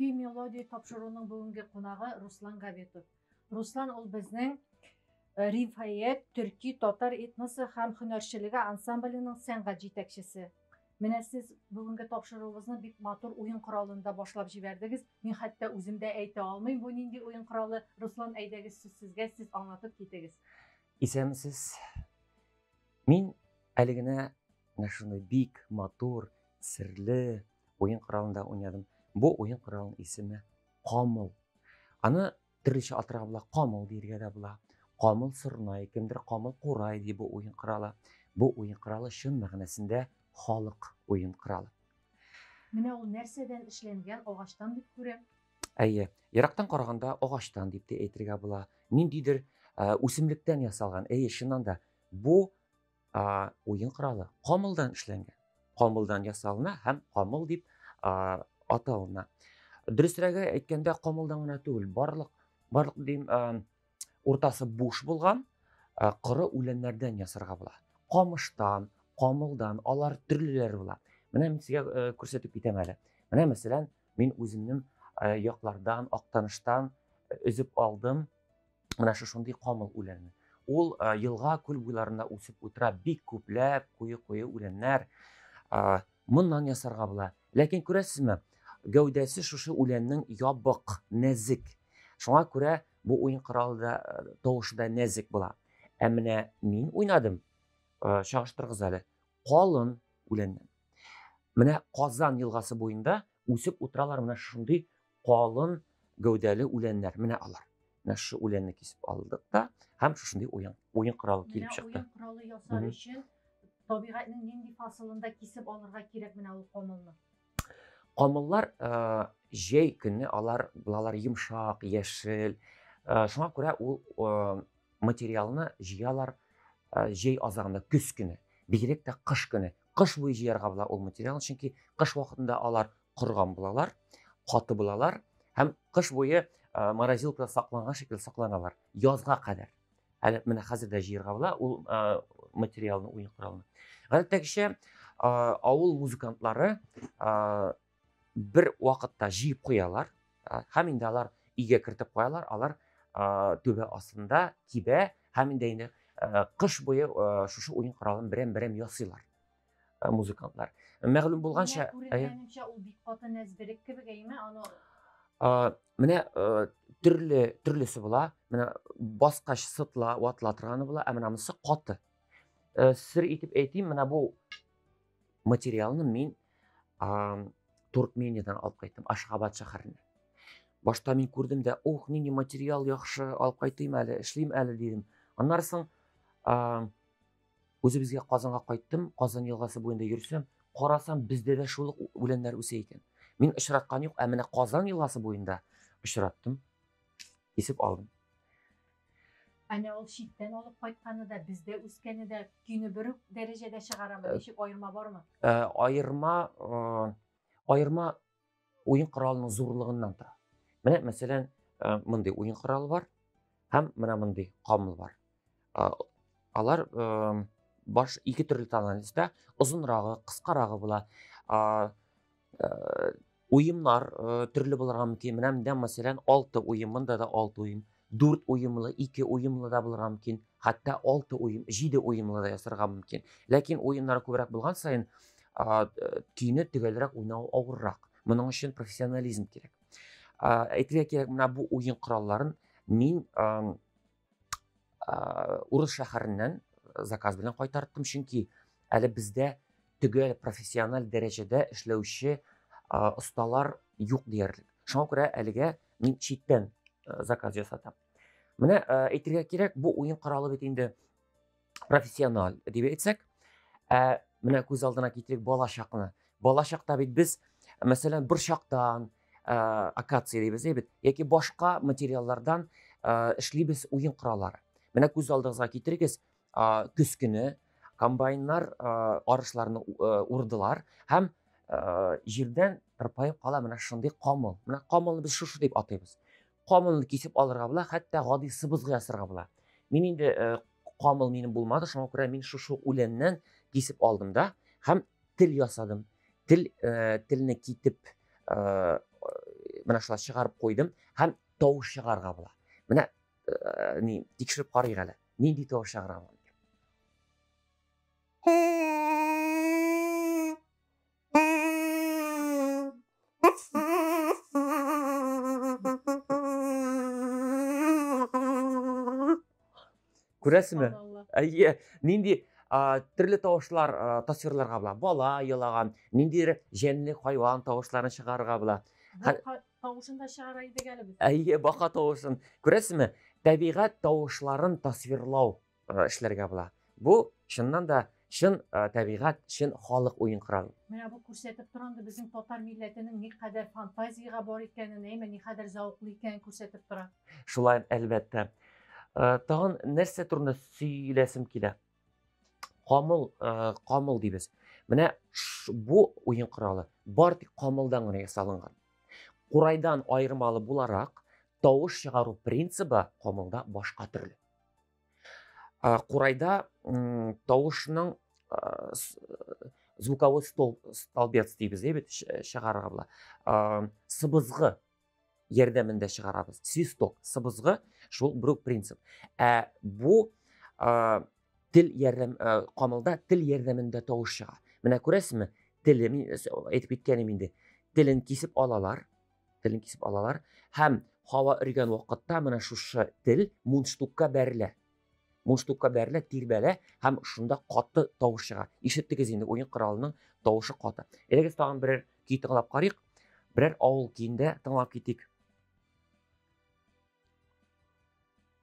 Көй мелодия тапшыруның бүгенге кунагы Руслан Габитов. Руслан ул безнең э, Рифаят төрки татар этносы һәм һөнәрчелеге ансамбленең сәнгать җитәкчесе. Менә сез бүгенге тапшыруыбызны бик матур уен коралында башлап җибәрдегез. Мин хәтта үзем дә әйтә алмыйм, бу нинди уен коралы. Руслан, әйдәгез сүз сезгә, сез аңлатып китегез. Исәнмесез. Мин әле генә менә шундый бик матур, серле, уен коралында уйнадым. Бу уен коралының исеме камыл. Аны төрлечә атырга була, камыл диергә дә була. Камыл сырнай, кемдер камыл курай ди бу уен коралы. Бу уен коралы чын мәгънәсендә халык уен коралы. Менә ул нәрсәдән эшләнгән агачтан дип күрәм. Әйе, ерактан караганда агачтан дип тә әйтергә була. Ниндидер үсемлектән ясалган. Әйе, чыннан да бу ә, уен коралы камылдан эшләнгән камылдан ясалына һәм камыл дип ә, аталына дөресрәге әйткәндә камылдан гына түгел барлык барлык дим ә, уртасы буш булган ә, коры үләннәрдән ясарга була камыштан камылдан алар төрлеләре була менә мин сезгә ә, күрсәтеп китәм әле менә мәсәлән мин үземнең ә, яклардан актаныштан өзеп алдым Менә шушындый камыл үләне. Ул елга күл буйларында үсеп утыра, бик күпләп куе-куе үләннәр. Моннан ясарга була. Ләкин күрәсезме, гәүдәсе шушы үләннең ябык, нәзик. Шуңа күрә бу уен коралы да тавышы да нәзик була. Ә менә мин уйнадым, чагыштырыгыз әле, калын үләннән. Менә Казан елгасы буенда үсеп утыралар менә шундый Калын гәүдәле үләннәр, менә алар. Менә шушы үләнне кисеп алдык та, һәм шушындый уен, уен коралы килеп чыкты. Уен коралы ясар өчен табигатьнең нинди фасылында кисеп алырга кирәк менә ул камылны? Камыллар җәй көнне алар булалар йомшак, яшел. Шуңа күрә ул материалны җыялар җәй азагында, көз көне, бигрәк тә кыш көне. Кыш буе җыярга була ул материалны, чөнки кыш вакытында алар корган булалар, каты булалар һәм кыш буе морозилкада сакланган шикелле сакланалар. Язга кадәр. Әле менә хәзер дә җыярга була ул материалны, уен коралны. Гадәттәгечә авыл музыкантлары бер вакытта җыеп куялар һәм инде алар өйгә кертеп куялар алар түбә астында кибә һәм инде инде кыш буе шушы уен коралын берәм берәм ясыйлар музыкантлар мәгълүм булганча күренгәнемчә ул бик каты нәзберек кебек әйме аны менә төрле төрлесе була менә баскач сытла ватыла торганы була ә менә монысы каты сер итеп әйтим менә бу материалны мин ә, Туркмениядән алып кайттым, Ашхабад шәһәреннән. Башта мин күрдем дә, ух, нинди материал яхшы, алып кайтыйм әле, эшлим әле дидем. Аннары соң ә, үзебезгә Казанга кайттым, Казан елгасы буенда йөрсәм, карасам, бездә дә шул үләннәр үсә икән. Мин очраткан юк, ә менә Казан елгасы буенда очраттым. Кисеп алдым. Әнә ул читтән алып кайтканы да, бездә үскәне дә көйне бер үк дәрәҗәдә чыгарамы? Э, Ничек аерма бармы? Э, аерма э, аерма уен коралының зурлыгыннан тора. Менә мәсәлән, мондый уен коралы бар һәм менә мондый камыл бар. Алар баш ике төрле тональностьта, озынрагы, кыскарагы була. уемнар төрле булырга мөмкин менә монда мәсәлән алты уем монда да алты уем дүрт уемлы ике уемлы да булырга мөмкин хәтта алты уем җиде уемлы да ясарга мөмкин ләкин уемнар күбрәк булган саен көйне төгәлрәк уйнау авыррак моның өчен профессионализм кирәк әйтергә кирәк менә бу уен коралларын мин урыс шәһәреннән э, заказ белән кайтарттым чөнки әле бездә төгәл профессиональ дәрәҗәдә эшләүче осталар юк диярлек шуңа күрә әлегә мин читтән э, заказ ясатам менә э, әйтергә кирәк бу уен коралы бит инде профессиональ дип әйтсәк ә менә күз алдына китерик балачакны балачакта бит без мәсәлән борчактан ә, акация дибез бит яки башка материаллардан ә, эшлибез уен кораллары менә күз алдыгызга китерегез ә, көз көне комбайннар ә, арышларны ә, урдылар һәм ә, җирдән тырпаеп кала менә шундый камыл менә камылны без шушы дип атыйбыз камылны кисеп алырга була, хәтта гади сыбызгы ясарга була. Мин инде э, камыл минем булмады, шуңа күрә мин шушы үләннән кисеп алдым да һәм тел ясадым. Тел э, телне китеп э, менә шулай чыгарып куйдым һәм тавыш чыгарга була. Менә э, ни тикшереп карыйк әле. Нинди тавыш чыгарам? күрәсезме әйе нинди төрле тавышлар тасвирларга була бала елаган ниндидер җәнле хайван тавышларын чыгарырга була тавышын да чыгара идек әле без әйе бака тавышын күрәсезме тәбигать тавышларын тасвирлау эшләргә була. Бу чыннан да чын табигать, чын халык уен коралы. Менә бу күрсәтеп тора инде безнең татар милләтенең никадәр фантазиягә бар икәнен, әйме никадәр зәвыклы икәнен күрсәтеп тора. Шулай, әлбәттә. Тагын нәрсә турында сөйләсем килә? Камыл, камыл дибез. Менә бу уен коралы бар тик камылдан гына ясалынган. Курайдан аермалы буларак, тавыш чыгару принцибы камылда башка төрле. Курайда тавышның звуковой стол столбец дейбез ә бит чыгарырга була сыбызгы ярдәмендә чыгарабыз свисток сыбызгы шул брук принцип ә бу ә, тел ярдәм ә, камылда тел ярдәмендә тавыш чыга менә күрәсезме теле мин әйтеп киткәнем инде телен кисеп алалар телен кисеп алалар һәм һава өргән вакытта менә шушы тел мундштукка бәрелә мундштукка бәрелә тирбәлә һәм шунда каты тавыш чыга ишеттегез инде уен коралының тавышы каты элегез тагын берәр көй тыңлап карыйк берәр авыл көендә тыңлап китик